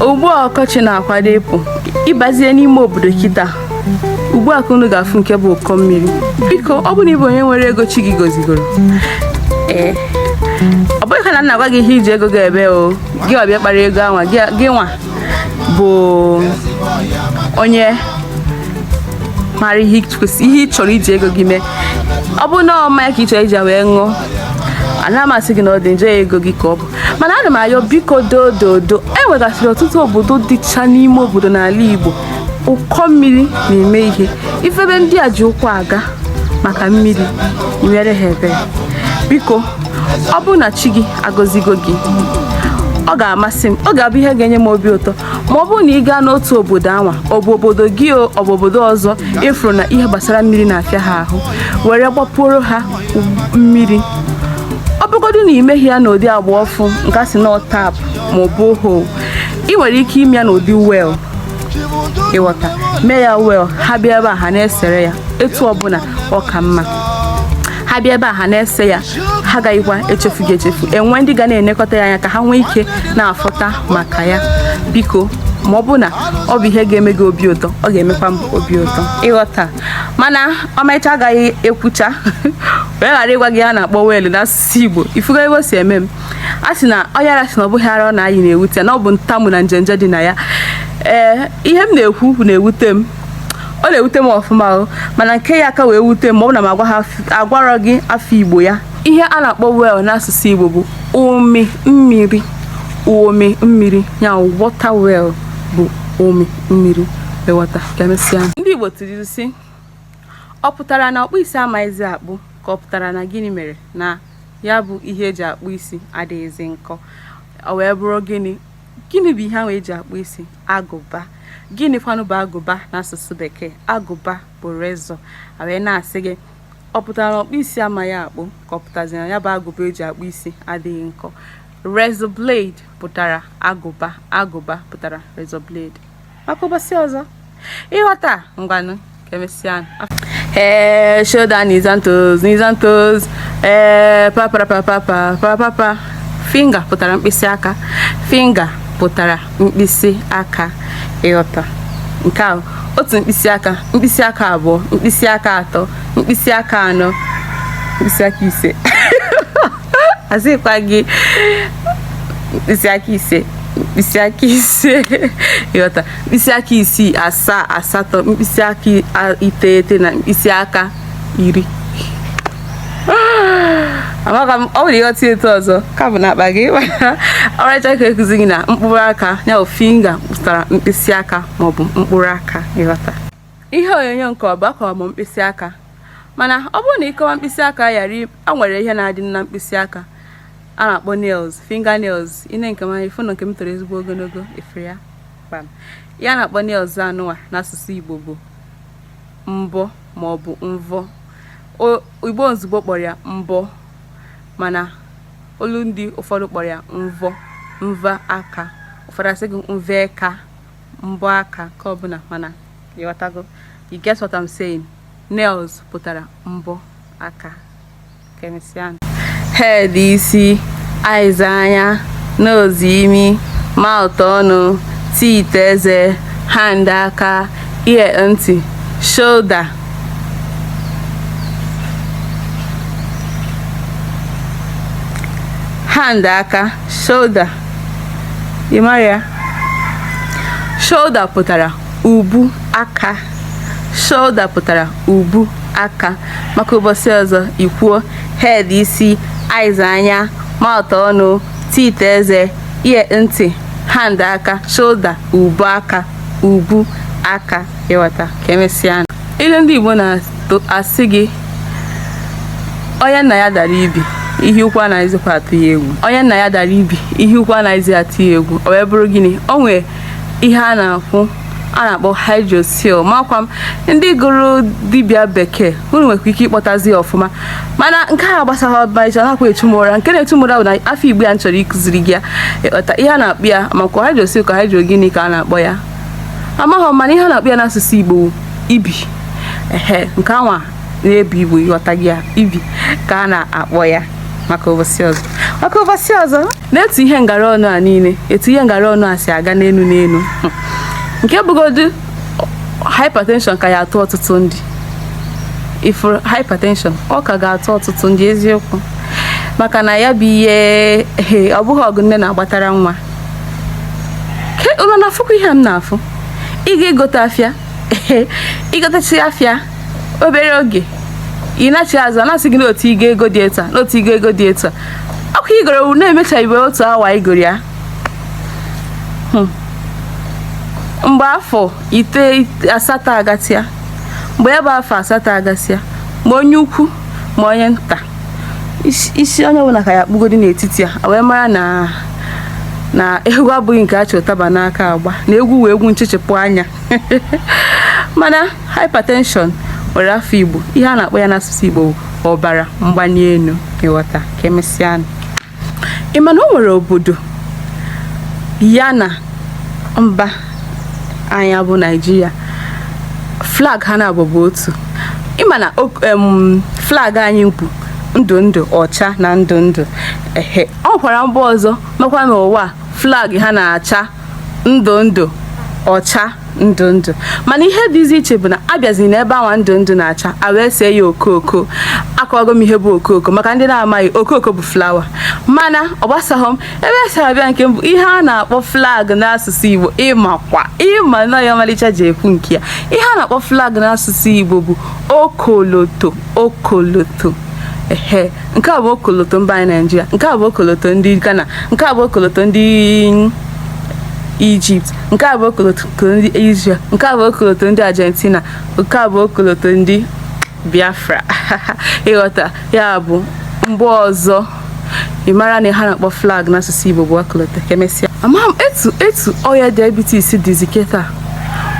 ugbu a ọkọchị na-akwado ịpụ ị bazie n'ime obodo kita ugbu a ka unu ga-afụ nke bụ ụkọ mmiri biko ọ bụrụ na ị bụ onye nwere ego chi gị gozigoro ee ọ bụghị kwa na m na-agwa gị ihe ị ji ego gị eme o gị ọbịa kpara ego anwa gị gị nwa bụ onye mara ihe ị kwesị- ihe ị chọrọ iji ego gị mee ọ bụrụ na ọ mmanya ka ị chọrọ iji ya wee ṅụọ ana m asị gị na ọ dị njọ ya ego gị ka ọ bụ mana ana m ayọ biko doododo e nwegasịrị ọtụtụ obodo dịcha n'ime obodo n'ala Igbo ụkọ mmiri na-eme ihe ị fụ ebe ndị a ji ụkwụ aga maka mmiri i meere ha ebere biko ọ bụrụ na chi gị agọzigo gị ọ ga-amasị m ọ ga-abụ ihe ga-enye m obi ụtọ ma ọ bụrụ na ị gaa n'otu obodo anwa ọ bụ obodo gị ọ bụ obodo ọzọ ị fụrụ na ihe gbasara mmiri na-afịa ha ahụ were gbapuoro ha mmiri ọ bụgodu na i meghi ya n'ụdị agba ọfụụ nke a sị na tap ma borehole ị nwere ike ime ya n'ụdị well ị ghọta mee ya well ha bịa ebe a ha na-esere ya etu ọbụla ọ ka mma ha bịa ebe a ha na-ese ya ha agaghịkwa echefu gị echefu e nwee ndị ga na-enekọta ya anya ka ha nwee ike na-afụta maka ya biko ma ọ bụ na ọ bụ ihe ga-eme gị obi ụtọ ọ ga-emekwa m obi ụtọ ị ghọta mana ọmarịcha agaghị ekwucha wee ghara ịgwa gị ihe a na-akpọ well n'asụsụ igbo ị fụgo ebe o si eme m a sị na onye ara sị na ọ bụghị ara ọ na-ayị na-ewute na ọ bụ ntamu na njenje dị na ya ee ihe m na-ekwu na-ewute m ọ na-ewute m ọfụma o mana nke ya-aka wee wute m ọ bụ na m agwarọ gị afa igbo ya ihe a na-akpọ well n'asụsụ igbo bụ umi mmiri umi mmiri ya water well bụ umi mmiri ị ghọta ka emesịa ndị Igbo tụrụ sị ọ pụtara na ọkpụ isi amaghịzi akpụ ka ọ pụtara na gịnị mere na ya bụ ihe e ji akpụ isi adịghịzi nkọ ọ wee bụrụ gịnị gịnị bụ ihe ahụ e ji akpụ isi agụba gịnị kwanụ bụ agụba n'asụsụ bekee agụba bụ razor wee na-asị gị ọ pụtara na ọkpụ isi amaghị akpụ ka ọ pụtazi na ya bụ agụba e ji akpụ isi adịghị nkọ razor blade pụtara agụba agụba pụtara razor blade maka ụbọchị ọzọ ị ghọta ngwanụ ka emesịa ee eh, shoulder knees and toes knees and toes ee eh, papapapapapapa finger pụtara mkpịsị aka finger pụtara mkpịsị aka ị ghọta nke a otu mkpịsị aka mkpịsị aka abụọ mkpịsị aka atọ mkpịsị aka anọ mkpịsị aka ise asịkwa gị mkpịsị aka ise mkpịsị aka ise ịghọta mkpịsị aka isii asaa asatọ mkpịsị aka iteghete na mkpịsị aka iri amaka m ọ bụrụ ịghọta etu ọzọ ka bụ n'akpa gị ọmarịcha ka ekuzi gị na mkpụrụ aka ya bụ finger pụtara mkpịsị aka maọbụ mkpụrụ aka ịghọta Ihe onyonyo nke mbụ akọwa m mkpịsị aka mana ọ bụrụ na ịkọwa mkpịsị aka ghara a nwere ihe na-adị na mkpịsị aka a na-akpọ nails finger nails ine nke m anya ịfụ na nke m toro ezigbo ogologo efere ya kpam ihe a na-akpọ nails anụwa n'asụsụ Igbo bụ mbọ maọbụ mvọ Igbo izugbe kpọrọ ya mbọ mana olu ndị ụfọdụ kpọrọ ya mvọ mvọ aka ụfọdụ asị gị mvọ aka mbọ aka nke ọbụla mana ịghọtago you get what I'm saying nails pụtara mbọ aka ka emesịa head isi eyes anya nose imi mouth ọnụ teeth eze hand aka ear ntị shoulder hand aka shoulder ị mara ya shoulder pụtara ubu aka shoulder pụtara ubu aka maka ụbọchị ọzọ ikwuo head isi eyes anya mouth ọnụ teeth eze ear ntị hand aka shoulder ubu aka ubu aka ịghọta ka emesịa ilu ndị Igbo na-asị gị onye nna ya dara ibi ihe ukwu anaghịzikwa atụ ya egwu onye nna ya dara ibi ihe ukwu anaghịzi atụ ya egwu o wee bụrụ gịnị o nwee ihe a na-akwụ a na-akpọ hydrocele makwa m ndị gụrụ dibịa bekee unu nwekwa ike ịkpọtazi ya ọfụma mana nke a gbasara ọmarịcha nakwa etumụra nke na-etumụra bụ na afọ igbo ya m chọrọ ịkụziri gị ya ịghọta ihe a na-akpọ ya makwa hydrocele ka hydro gịnị ka a na-akpọ ya amaghị m mana ihe a na-akpọ ya n'asụsụ Igbo wụ ibi ehe nke anwa na-ebi Igbo ịghọtago ya ibi ka a na-akpọ ya maka ụbọchị ọzọ maka ụbọchị ọzọ na etu ihe ngara ọnụ a niile etu ihe ngara ọnụ a si aga n'elu n'elu nke bụgodu hypertension ka ya atụ ọtụtụ ndị ifuru hypertension ọ ka ga-atụ ọtụtụ ndị eziokwu maka na ya bụ ihe ehe ọ bụghị ọgụ nne na-agbatara nwa unu na-afụkwa ihe m na-afụ ị ga-egote afịa ịgotacha afịa obere oge ị nachi azụ a na-asị gị n'otu ị ga-ego dị etu a n'otu ị ga-ego dị etu a ọkụ igoro na-emechaghịbe otu awa igoro ya hmm. mgbe afọ ite asatọ agasịa mgbe ya bụ afọ asatọ agasịa ma onye ukwu ma onye nta isi onye ọbụla ka ya kpụgodi n'etiti a wee mara na egwu abụghị nke a chị ụtaba n'aka agba na egwu wee egwu nchechepụ anya mana hypertension nwere afa igbo ihe a na-akpọ ya n'asụsụ igbo ọbara mgbali elu ị ghọta ka emesịa ị ma na o nwere obodo ya na mba anyị bụ naijiria flag ha na-abụ bụ otu ị ma na o- em, flag anyị bụ ndụ ndụ ọcha na ndụ ndụ ehe o nwekwara mba ọzọ makwa n'ụwa a, flag ha na-acha ndụ ndụ ọcha ndụ ndụ mana ihe dịzi iche bụ na a bịazi n'ebe anwa ndụ ndụ na-acha a wee see ya okooko akọwago m ihe bụ okooko maka ndị na-amaghị okooko bụ flawa mana ọ gbasaghọ m ebe e si abịa nke mbụ ihe a na-akpọ flag n'asụsụ Igbo ị makwa ị ma na ọ ya ọmalịcha ji ekwu nke a ihe a na-akpọ flag n'asụsụ Igbo bụ okoloto okoloto ehe nke a bụ okoloto mba anyị naijiria nke a bụ okoloto ndị ghana nke a bụ okoloto ndị ijipt nke a bụ okoloto ndị israel nke a bụ okoloto ndị argentina nke a bụ okoloto ndị biafra ị ghọta ya bụ mgbe ọzọ ị mara na ihe a na-akpọ flag n'asụsụ igbo bụ okoloto ka emesịa amaghị m etu etu ọya diabetes dịzi kịta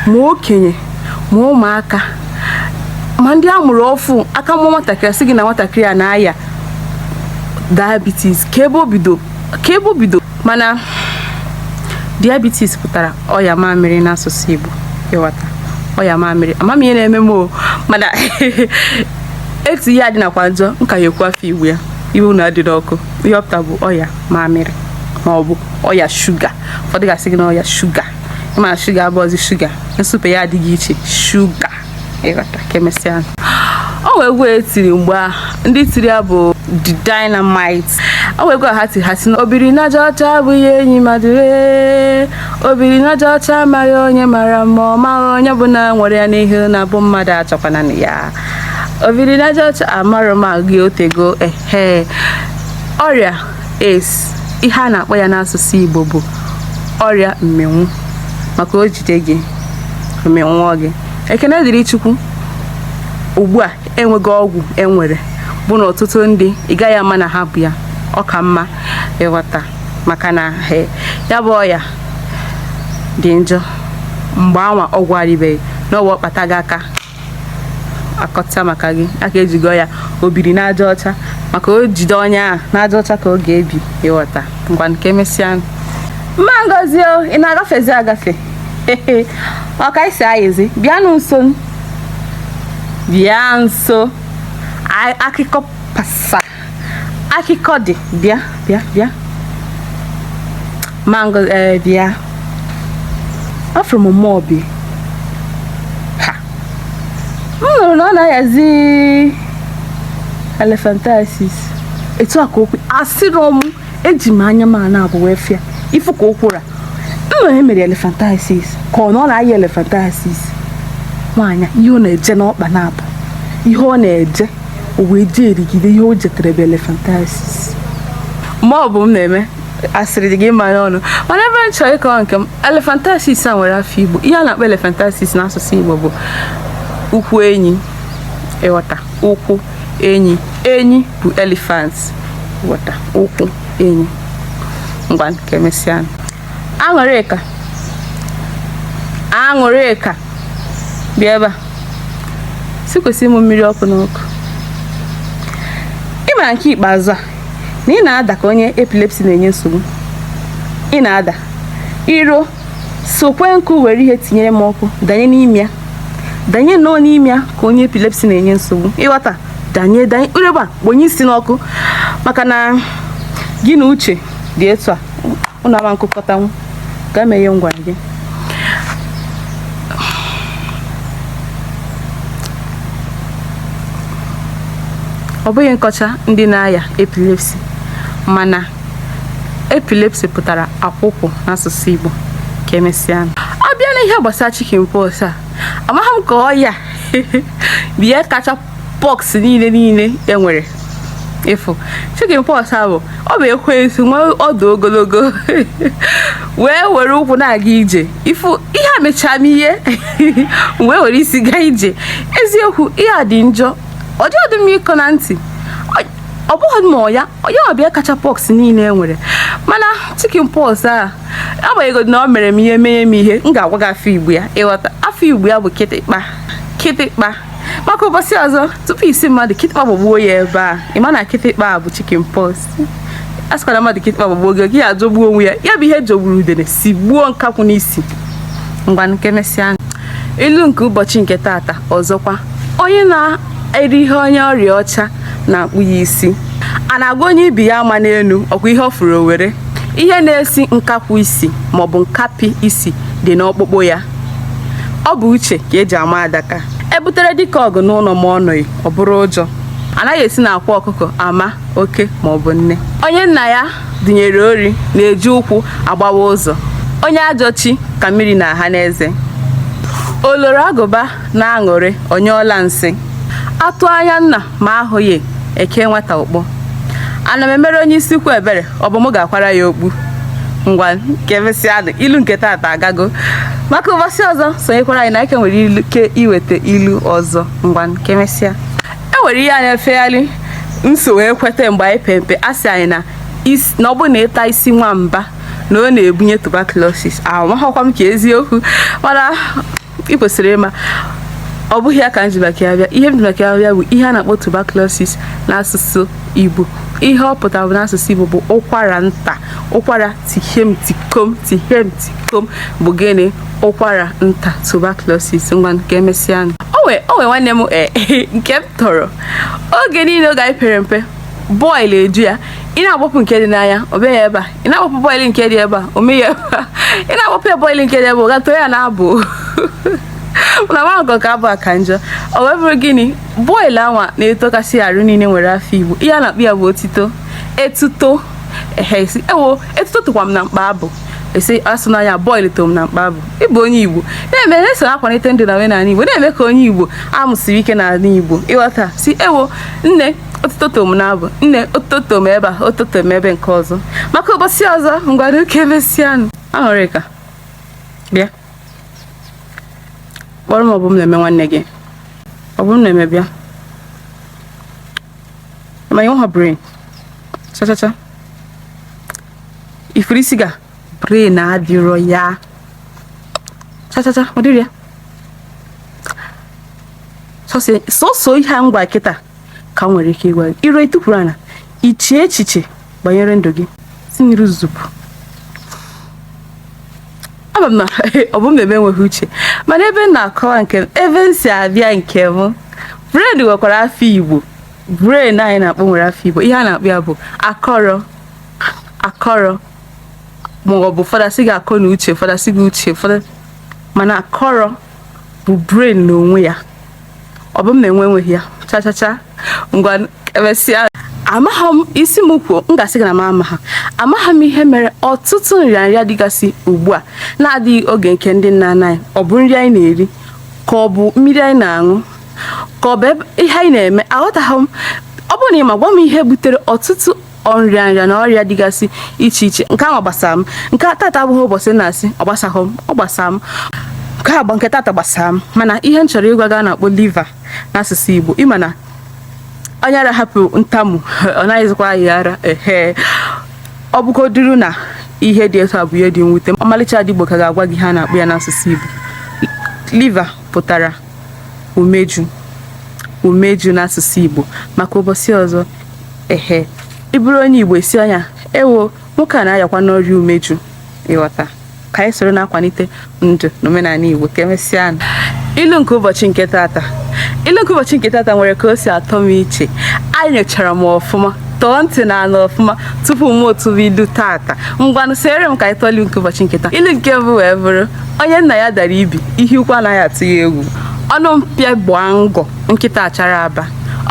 ma okenye ma ụmụaka ma ndị a mụrụ ọfụ a ka mụọ nwatakịrị sị gị na nwatakịrị a na-aya diabetes kee ebe o bido kee ebe o bido mana diabetes pụtara ọya mamịrị n'asụsụ Igbo ị ghọta ọya mamịrị ama m ihe na-eme m o mana etu ihe a dịnakwa njọ m ka na-ekwu afa igbo ya iwe unu adịna ọkụ ihe ọ pụta bụ ọya mamịrị ma ọ bụ ọya shuga ụfọdụ ga-asị gị na ọya shuga ị ma shuga abụọzi shuga nsupe ya adịgo iche shuga ị ghọta ka emesịa o nwere egwu e tiri mgbe a ndị tiri ya bụ the dynamite o nwere egwu ha tiri ha sị na obiri n'aja ọcha abụghị enyi mmadụ ee obiri n'aja ọcha amaghị onye mara mma ọ maghị onye bụ na nwere ya n'ihe na bụ mmadụ achọkwana na ya obiri n'aja ọcha amarọ m agụ ya o tego ehe ọrịa AIDS ihe a na-akpọ ya n'asụsụ Igbo bụ ọrịa mmịnwụ maka o jide gị ọ mịnwụọ gị ekene dịrị Chukwu ugbu a e nwego ọgwụ e nwere bụ na ọtụtụ ndị ị gaghị ama na ha bu ya ọ ka mma ị ghọta maka na ya bụ ọya dị njọ mgbe anwa ọgwụ arịbeghị n'ọwa ọ kpata gị aka akọta maka gị aka ejigo ya o biri n'aja ọcha maka o jide onye a n'aja ọcha ka ọ ga-ebi ịghọta ngwanụ ka emesịa mma ngozi o ị na-agafezi agafe ọka isi ayịzi bịanụ nso bịa nso akụkọ pasa akụkọ dị bịa bịa bịa mango ee bịa afụrụ m mma obi a m nụrụ na ọ na-ayazi elephantiasis etu a ka okwu asịrị ọmụ eji m anya m a naabọ wee fụ ya ị fụ ka ụkwụ ra m na emere elephantiasis ka ọ na ọ na-aya elephantiasis nwaanyị ihe ọ na-eje n'ọkpa na-abụ ihe ọ na-eje o wee jerigide ihe o jetere bụ elephantiasis ma ọ bụ m na-eme asịrị dị gị mma n'ọnụ mana ebe m chọrọ ịkọwa nke m elephantiasis a nwere afa igbo ihe a na-akpọ elephantiasis n'asụsụ igbo bụ ụkwụ enyi ịghọta ụkwụ enyi enyi bụ elephant ịghọta ụkwụ enyi ngwanụ ka emesịa Aṅụrịka Aṅụrịka bịa ebe a sikwesị m mmiri ọkụ n'ọkụ ị mara nke ikpeazụ a na ị na-ada ka onye epilepsy na-enye nsogbu ị na-ada iro sokwe nkụ were ihe tinyere m ọkụ danye n'ime ya danye nnọọ n'ime ya ka onye epilepsy na-enye nsogbu ịghọta danye danye urebe a kponye isi n'ọkụ maka na gị na uche dị etu a unu ama nkụkọtanwu ka eme ihe m gwa gị ọ bụghị nkọcha ndị na-aya epilepsy mana epilepsy pụtara akwụkwụ n'asụsụ Igbo ka emesịa ọ bịa na ihe gbasara chicken pox a amaghị m ka ọ ya bụ ya kacha pox niile niile e nwere ị fụ chicken pox a bụ ọ bụ ekwensu nwe ọdụ ogologo wee were ụkwụ na-aga ije ị fụ ihe a mechaa m ihe wee were isi gaa ije eziokwu ihe a dị njọ ọ dị ọdị m ịkọ na ntị ọ bụghị ma ya onye ọ bụ ya kacha pox niile e nwere mana chicken pox a agbanyeghị na ọ mere m ihe menye m ihe m ga-agwa gị afa igbo ya ịghọta afa igbo ya bụ kịtịkpa kịtịkpa maka ụbọchị ọzọ tupu ị sị mmadụ kịtịkpa gbagbuo ya ebe a ị ma na kịtịkpa a bụ chicken pox a sịkwara mmadụ kịtịkpa gbagbuo gị gị ya ajọgbuo onwe ya ya bụ ihe jọgburu udene sigbuo nkakwụ n'isi ngwanụ ka emesịa ilu nke ụbọchị nke tata ọzọkwa onye na-eri ihe onye ọrịa ọcha na-akpụ ya isi a na-agwọ onye ibi ya ama n'elu ọkwa ihe ọ fụrụ o were ihe na-esi nkakwụ isi maọbụ nkapi isi dị n'ọkpụkpụ ya ọ bụ uche ka eji ama adaka ebutere dike ọgụ n'ụlọ ma ọ nọghị ọ bụrụ ụjọ anaghị esi na akwa ọkụkọ ama oke ma ọ bụ nne onye nna ya dunyere ori na-eji ụkwụ agbawa ụzọ onye ajọ chi ka mmiri na-aha n'eze oloro agụba na-aṅụrị ọ nyụọla nsị atụ anya nna ma ahụghị eke nwata ụkpọ ana m emere onye isi ukwu ebere ọ bụ m ga-akwara ya okpu ngwanụ ka emesịa ilu nke taata agago maka ụbọchị ọzọ sonyekwara anyị na ike nwere ike iweta ilu ọzọ ngwanụ ka emesịa e nwere ihe anyị efegharị nso wee kweta mgbe anyị pere mpe a sị anyị na is- na ọ bụrụ na ị taa isi nwamba na ọ na-ebunye tuberculosis amaghịkwa m ka eziokwu mana ị kwesịrị ịma ọ bụghị ya ka m ji maka ya bịa ihe m ji maka ya bịa bụ ihe a na-akpọ tuberculosis n'asụsụ Igbo ihe ọ pụtara bụ n'asụsụ Igbo bụ ụkwara nta ụkwara tihem tikom tihem tikom bụ gịnị ụkwara nta tuberculosis ngwanụ ka emesịanụ. o nwee o nwee nwanne m eh, nke m tọrọ oge niile oge anyị pere mpe bọịlụ eju ya ị na-agbapụ nke dị n'anya ọ bịa ya ebe a ị na-awapụ bọịlụ nke dị ebe a o mee ya ị na-awapụ ya bọịlụ nke dị ebe a ọ gaa too ya n'abụ na nwankọ ka abụ aka njọ ọ wee bụrụ gịnị bọịlụ anwa na-etokasị arụ niile nwere afa igbo ihe a na-akpọ ya bụ otuto etuto ehe ewo etuto tokwa m na mkpa abụ esi asụ n'anya bọịlụ to m na mkpa abụ ị bụ onye igbo na-eme na-eso akwalite ndụ na omenala igbo na-eme ka onye igbo amụsiri ike n'ala igbo ị ghọta sị ewo nne otuto to m n'abụ nne otuto m ebe a otuto m ebe nke ọzọ maka ụbọchị ọzọ ngwanụ ka emesịanụ Aṅụrịka bịa kpọrọ m Ọbụmneme nwanne gị Ọbụmneme bịa ma ị nweghị brain chachacha ị fụrụ isi gị a brain adịrọ ya chachacha ọ dịrọ ya sọsọ ihe a ngwa kịta ka m nwere ike ịgwa gị iro itukwuru ana iche echiche banyere ndụ gị si n'iru zupụ ama m na Ọbụmneme enweghị uche mana ebe m na-akọwa nke m ebe m si abịa nke m brain nwekwara afa igbo brain anyị na-akpọ nwere afa igbo ihe a na-akpọ ya bụ akọrọ akọrọ ma ọ bụ ụfọdụ asị gị akọ na uche ụfọdụ asị gị uche ụfọdụ mana akọrọ bụ brain n'onwe ya Ọbụmneme enweghị ya chachacha ngwa emesịa amaghị m ị sị m kwuo m ga-asị gị na m amaghị amaghị m ihe mere ọtụtụ nrịanrịa dịgasị ugbu a na-adịghị oge nke ndị nna nna anyị ọ bụ nri anyị na-eri ka ọ bụ mmiri anyị na-aṅụ ka ọ bụ ihe anyị na-eme aghọtaghị m ọ bụrụ na ị ma gwa m ihe butere ọtụtụ nrịanrịa na ọrịa dịgasị iche iche nke ahụ gbasara m nke tata abụghị ụbọchị na-asị ọ gbasaghị m ọ gbasara m nke agba nke tata gbasara m mana ihe m chọrọ ịgwa gị ihe a na-akpọ liver n'asụsụ Igbo ịma na onye ara hapụ ntamu ọ naghịzikwa ayị ara ehe ọ bụgoduru na ihe dị etu a bụ ihe dị mwute ọmalịcha ada Igbo ka ga-agwa gị ihe a na-akpọ ya n'asụsụ Igbo liver pụtara umeju umeju n'asụsụ Igbo maka ụbọchị ọzọ ehe ị bụrụ onye igbo esi anya ewo nwoke a na-ayakwanụ ọrịa umeju ịghọta ka anyị soro na-akwalite ndụ na omenala igbo ka emesịa ilu nke ụbọchị nke tata ilu nke ụbọchị nke tata nwere ka o si atọ m iche enyochara m ọfụma tọọ ntị na anị ọfụma tupu m atụọ ilu tata ngwanụ soro m ka anyị tụọ ilu nke ụbọchị nke taa ilu nke mbụ wee bụrụ onye nna ya dara ibi ihe ukwu anaghị atụ ya egwu ọnụ mpio gbaa ngọ nkịta achara aba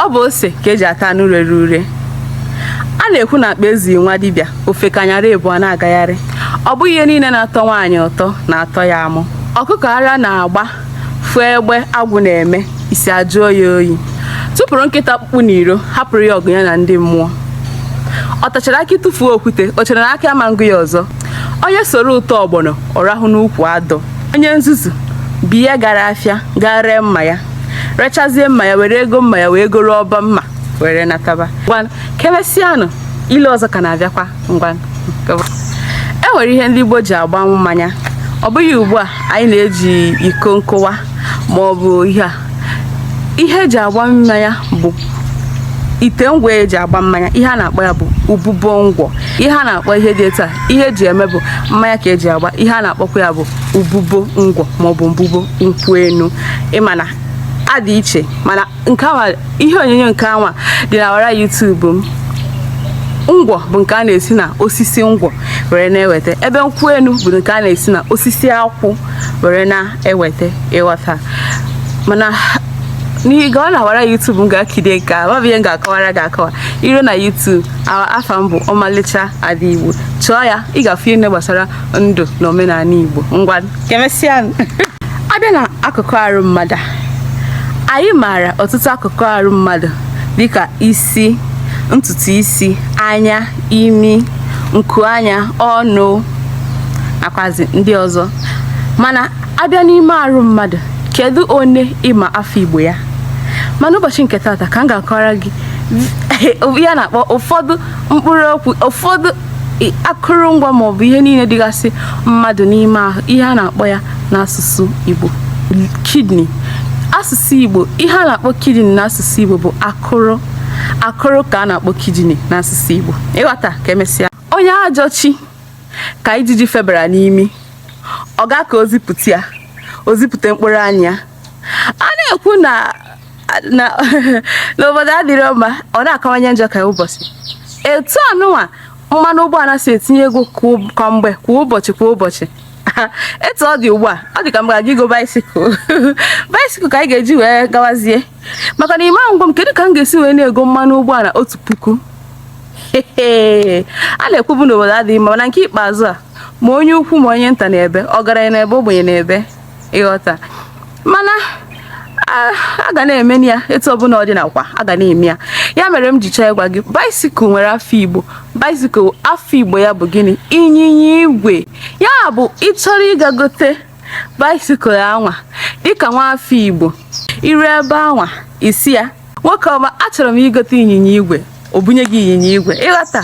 ọ bụ ose ka eji ata anụ rere ure a na-ekwu na akpa ezughị nwa dibịa o fekanyara ebu a na-agagharị ọ bụghị ihe niile na-atọ nwaanyị ụtọ na-atọ ya amụ ọkụkọ ara na-agba fụọ egbe agwụ na-eme isi ajụọ ya oyi tụpụrụ nkịta ọkpụkpụ n'iro hapụrụ ya ọgụ ya na ndị mmụọ ọ tachara akị tụfuo okwute o chere na akị ama ngụ ya ọzọ onye soro ụtọ ọgbọnọ ọ rahụ n'ukwu adọ onye nzuzu be anyị gara afịa gaa ree mma ya rechazie mma ya were ego mma ya wee goro ọbọ mma were nataba ngwanụ kemesianụ ilu ọzọ ka na-abịakwa ngwanụ e nwere ihe ndị Igbo ji agbanwụ mmanya ọ bụghị ugbu a anyị na-eji iko nkụwa ma ọ bụ ihe a ihe eji agba mmanya bụ ite ngwa eji agba mmanya ihe a na-akpọ ya bụ mbubo ngwọ ihe a na-akpọ ihe dị etu a ihe eji eme bụ mmanya ka eji agba ihe a na-akpọkwa ya bụ mbubo ngwọ maọbụ mbubo nkwụ enu ị ma na ha dị iche mana nke awa ihe onyonyo nke anwa dị n'ọwara YouTube m ngwọ bụ nke a na-esi na osisi ngwọ were na-eweta ebe nkwụ enu bụ nke a na-esi na osisi akwụ were na eweta ịghọta mana n'ihi gaa n'ọwara YouTube m gaa kirie nke a ọ bụ ihe m ga-akọwara gị akọwa i ruo na YouTube afa m bụ ọmalịcha ada igbo chọọ ya ị ga-afụ ihe gbasara ndụ na omenala igbo ngwa kemesịa a bịa na akụkụ arụ mmadụ anyị maara ọtụtụ akụkụ arụ mmadụ dịka isi ntutu isi anya imi nku anya ọnụ nakwazi ndị ọzọ mana a bịa n'ime arụ mmadụ kedu one ị ma afa igbo ya mana ụbọchị nke tata ka m ga-akọrọ gị ihe a na-akpọ ụfọdụ mkpụrụ okwu ụfọdụ akụrụngwa maọbụ ihe niile dịgasị mmadụ n'ime ahụ ihe a na-akpọ ya n'asụsụ igbo kidney asụsụ igbo ihe a na-akpọ kidney n'asụsụ igbo bụ akụ akụrụ akụrụ ka a na-akpọ kidney n'asụsụ Igbo ịghọta ka emesịa onye ajọ chi ka ijiji febara n'imi ọ ga ka o zipụta ya o zipụta mkpụrụ anya a na-ekwu na obodo adịrọ mma ọ na-akawanye njọ kwa ụbọchị etu anụnwa mmanụ ụgbọala si etinye ego kwa mgbe kwa ụbọchị kwa ụbọchị etu ọ dị ugbu a ọ dị ka m ga-aga igo bicycle bicycle ka anyị ga-eji wee gawazie maka na ime ngwa m kedu ka m ga-esi wee na-ego mmanụ ụgbọala otu puku a na-ekwubu na obodo adịghị mma mana nke ikpeazụ a ma onye ukwu ma onye nta na-ebe ọgaranya na-ebe ogbenye na-ebe ịghọta mana a ga na-eme ya etu ọbụla ọ dị nakwa a ga na-eme ya ya mere m ji chọọ ịgwa gị bicycle nwere afa Igbo bicycle afa Igbo ya bụ gịnị ịnyịnya igwe ya bụ ị chọrọ ịga gote bicycle anwa dịka nwa afọ Igbo i rue ebe anwa ị sị ya nwoke ọma achọrọ m igote ịnyịnya igwe o bunye gị ịnyịnya igwe ịghọta